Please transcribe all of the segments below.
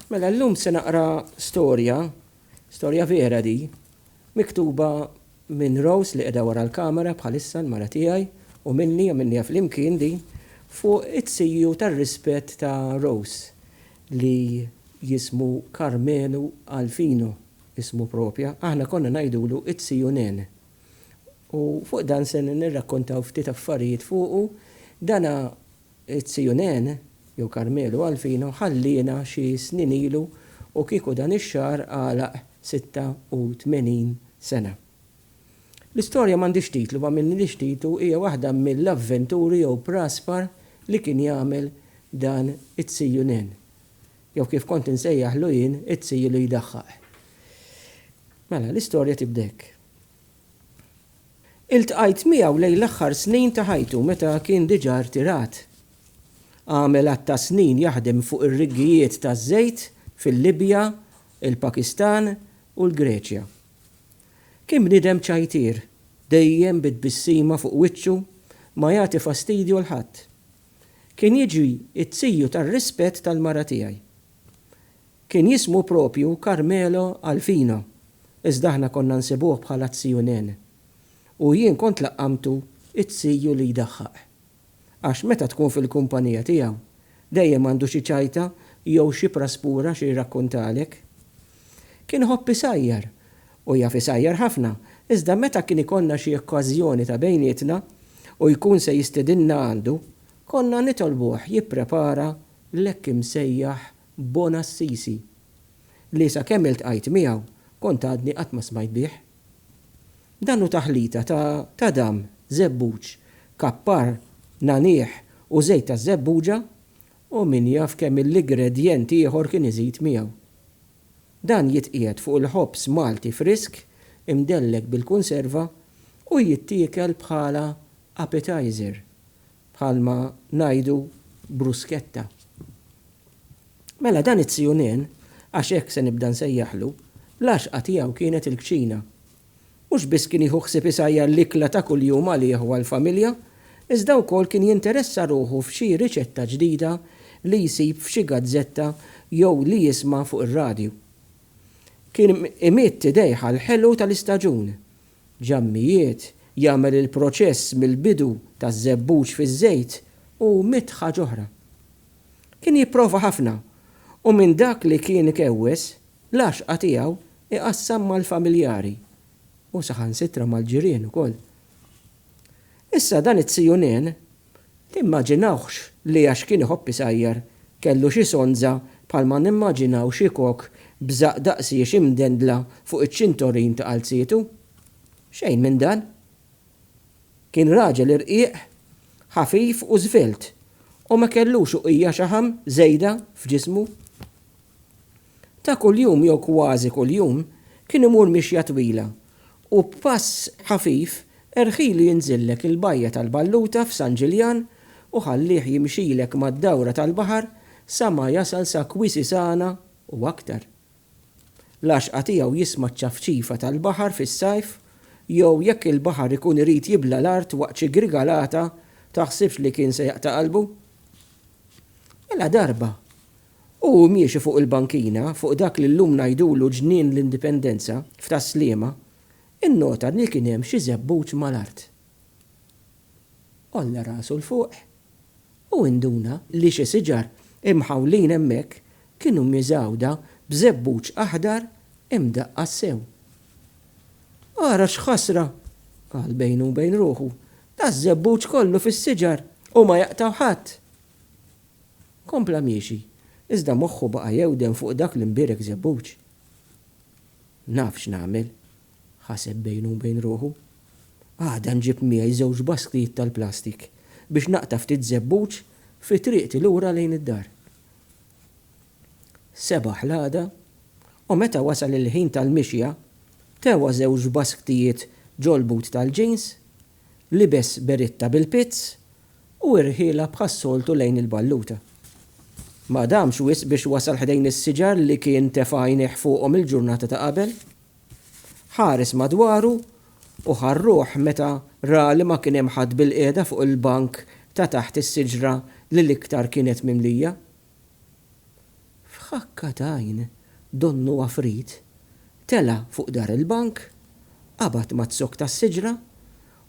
Mela llum se naqra storja, storja vera di, miktuba minn Rose li qiegħda wara l-kamera bħalissa l-mara tiegħi u minni għamilniha flimkien di fuq it-tsiju tar-rispett ta' Rose li jismu Karmelu Alfino ismu propja, aħna konna ngħidulu t-tsiju Nen. U fuq dan se nirrakkontaw ftit affarijiet fuqu, dana It-Tsijunen, jew Karmelu Alfino, ħalliena xi snin ilu u kieku dan ix-xahar għalaq 86 sena. L-istorja m'għandhiex titlu, ma għamilnilhiex titlu, hija waħda mill-avventuri jew praspar li kien jagħmel dan it-Tsijunen, jew kif kont insejjaħlu jien, it-Tsiju li jdaħħaq. Mela, l-istorja tibda hekk. Iltqajt miegħu lejn l-aħħar snin ta' ħajtu meta kien diġà rtirat. Għamel għadd ta' snin jaħdem fuq ir-riggijiet taż-żejt fil-Libja, il-Pakistan u l-Greċja. Kien bniedem ċajtier, dejjem bi tbissima fuq wiċċu, ma jagħti fastidju 'l ħadd. Kien jiġi t-tiju tar-rispett tal-mara tiegħi. Kien jismu proprju Carmelo Alfina, iżda aħna konna nsibuh bħala t-Ziju Nene. U jien kont laqqamtu t-ziju li jdaħħaq. Għax meta tkun fil-kumpanija tiegħu, dejjem għandu xi ċajta jew xi praspura xi jrakkuntalek. Kien iħobb isajjar, u jaf isajjar ħafna, iżda meta kien ikollna xi okkażjoni ta' bejnietna u jkun se jistidinna għandu, konna nitolbuh jipprepara l-hekk imsejjaħ Bona Assisi, li sakemm iltqajt miegħu kont għadni qatt ma smajt bih. Dan hu taħlita ta' tadam, żebbuġ, kappar, nagħniegħ u żejt taż-żebbuġa u min jaf kemm il-igredjent ieħor kien iżid miegħu. Dan jitqiegħed fuq il-ħobż Malti frisk imdellek bil-kunserva u jittiekel bħala appetizer bħalma ngħidu brusketta. Mela dan it-tzjunien, għax hekk se nibda nsejjaħlu, l-għaxqa tiegħu kienet il-kċina. Mhux biss kien jieħu ħsieb isajjar l-ikla ta' kuljum għalih u għall-familja, iżda wkoll kien jinteressa ruħu f'xi riċetta ġdida li jsib f'xi gazzetta jew li jisma' fuq ir-radju. Kien imidd idejh għall-ħelu tal-istaġun, ġammijiet, jagħmel il-proċess mill-bidu taż-żebbuġ fiż-żejt u mitt ħaġa oħra. Kien jipprova ħafna u minn dak li kien ikewwes, l-għaxqa tiegħu iqassam mal-familjari u saħansitra mal-ġirien ukoll. Issa dan it-Sijunen Timmaġinawhx li għax kien iħobb isajjar, kellu xi sonza bħalma nimmaġinaw xi kok b'żaqq daqsiex imdendla fuq iċ-ċintorin ta' qalzietu. Xejn minn dan. Kien raġel irqiq, ħafif u żvelt, u ma kellux uqija xaħam żejda f'ġismu. Ta' kuljum jew kważi kuljum kien imur mixja twila u b'pass ħafif erħilu jinżillek il-bajja tal-Balluta f'San Ġiljan u ħallih jimxilek mad-dawra tal-baħar sa ma jasal sa Quisisana u aktar. L-għaxqa tiegħu jisma' ċ-ċafċifa tal-baħar fis-sajf jew jekk il-baħar ikun irid jibla' l-art waqt xi grigalata taħsibx li kien se jaqta' qalbu. Mela darba Hu miexi fuq il-bankina, fuq dak li llum ngħidulu Ġnien l-Indipendenza, f'Tas-Sliema, innota li kien hemm xi żebbuġ mal-art. Għolla rasu 'l fuq u induna li xi siġar imħawlin hemmhekk kienu miżgħuda b'żebbuġ aħdar imdaqqas sew. Ara x'ħasra! qal bejnu u bejn ruħu. Daż-żebbuġ kollu fis-siġar u ma jaqtgħu ħadd! Kompla miexi, iżda moħħu baqa' jewden fuq dak li mbierek żebbuġ. Naf x'nagħmel, ħaseb bejnu u bejn ruħu. Għada nġib miegħi żewġ basktijiet tal-plastik biex naqta' ftit żebbuġ fi triqti lura lejn id-dar. Sebaħ l-għada, u meta wasal il-ħin tal-mixja, tewa żewġ basktijiet ġol-but tal-jeans libes beritta bil-pizz u irħielha bħas-soltu lejn il-balluta. Ma damx wisq biex wasal ħdejn is-siġar li kien tefa' għajnejh fuqhom il-ġurnata ta' qabel. Ħares madwaru u ħa r-ruħ meta ra li ma kien hemm ħadd bilqiegħda fuq il-bank ta' taħt is-siġra li l-iktar kienet mimlija. F'ħakka t'għajn, donnu għafrit tela' fuq dar il-bank, qabad mad-zokk tas-siġra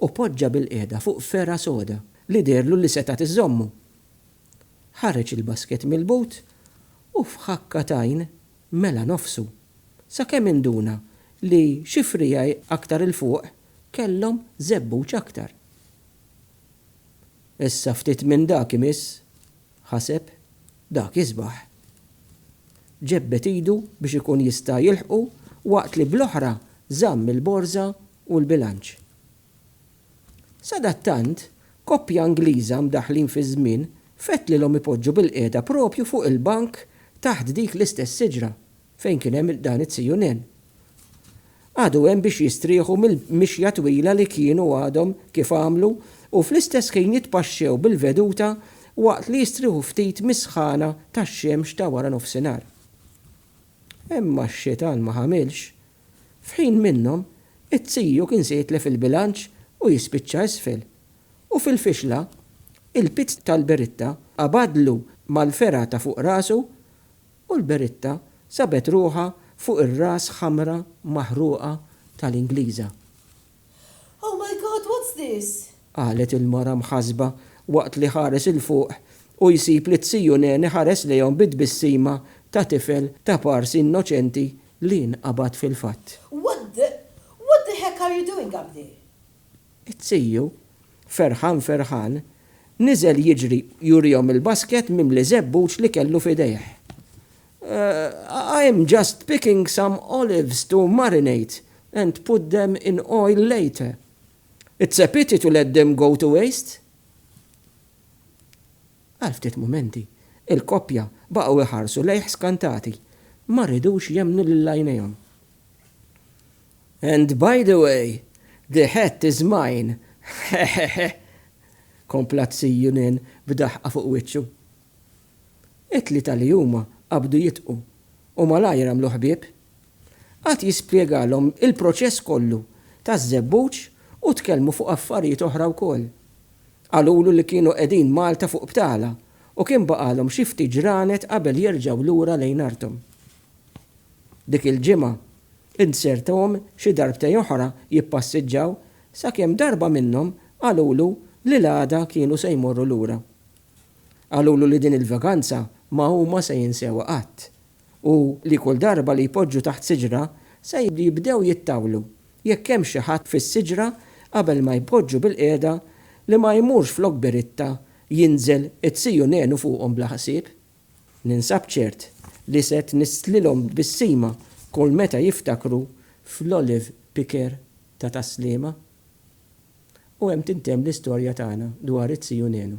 u poġġa bilqiegħda fuq fergħa soda li deherlu li setgħet iżżommu. Ħareġ il-basket mill-but u f'ħakka t'għajn mela nofsu, sakemm induna li xi friegħi aktar 'il fuq kellhom żebbuġ aktar. Issa ftit minn dak imiss, ħaseb, dak isbaħ. Ġebbed idu biex ikun jista' jilħqu waqt li bl-oħra żamm il-borża u l-bilanċ. Sadattant, koppja Ingliża mdaħħlin fiż-żmien fettlilhom ipoġġu bilqiegħda proprju fuq il-bank taħt dik l-istess siġra fejn kien hemm dan it-CNN. Għadu hemm biex jistrieħu mill-mixja twila li kienu għadhom kif għamlu u fl-istess ħin jitpaxxew bil-veduta waqt li jistrieħu ftit mis-sħana tax-xemx ta' wara nofsinhar. Imma x-xitan ma ħamilx. F'ħin minnhom, it-CU kien se jitlef il-bilanċ u jispiċċa isfel. U fil-fixla, il-pizz tal-beritta qabadlu mal-fergħa ta' fuq rasu U l-Beritta sabet ruħha fuq ir-ras ħamra maħruqa tal-Ingliża. Oh my God, what's this? qalet il-mara mħassba waqt li ħares 'il fuq u jsib li t-Siju Nen iħares lejhom bi tbissima ta' tifel ta' pars innoċenti li nqabad fil-fatt. What the, what the heck are you doing up there? It-tiju, ferħan ferħan, niżel jiġri jurihom il-basket mimli żebbuġ li kellu f'idejh. I'm just picking some olives to marinate and put them in oil later. It's a pity to let them go to waste. Għal ftit mumenti, il-koppja baqgħu jħarsu lejh skantati. Ma ridux jemmnu lil għajnejhom. And by the way, the hat is mine, heheheh! kompla t-Sir Junen b'daħqa fuq wiċċu. It-tlieta li huma qabdu jidħku u malajr għamlu ħbieb. Qagħad jispjegalhom il-proċess kollu taż-żebbuġ u tkellmu fuq affarijiet oħra wkoll. Qalulu li kienu qegħdin Malta fuq btala u kien baqgħalhom xi ftit ġranet qabel jerġgħu lura lejn arthom. Dik il-ġimgħa Int serthom xi darbtej oħra jippassiġġaw sakemm darba minnhom qalulu li l-għada kienu se jmorru lura. Qalulu li din il-vaganza ma huma se jinsewha qatt u li kull darba li jpoġġu taħt siġra se jibdew jittawlu jekk hemmx xi ħadd fis-siġra qabel ma jpoġġu bil-qiegħda li ma jmurx flok biritta jinżel it-siju nenu fuqhom bla ħsieb. Ninsab ċert li se tnisslilhom tbissima kull meta jiftakru fl-olive picker ta' Tas-Sliema. U hemm tintemm l-istorja tagħna dwar it-Ziju Nenu.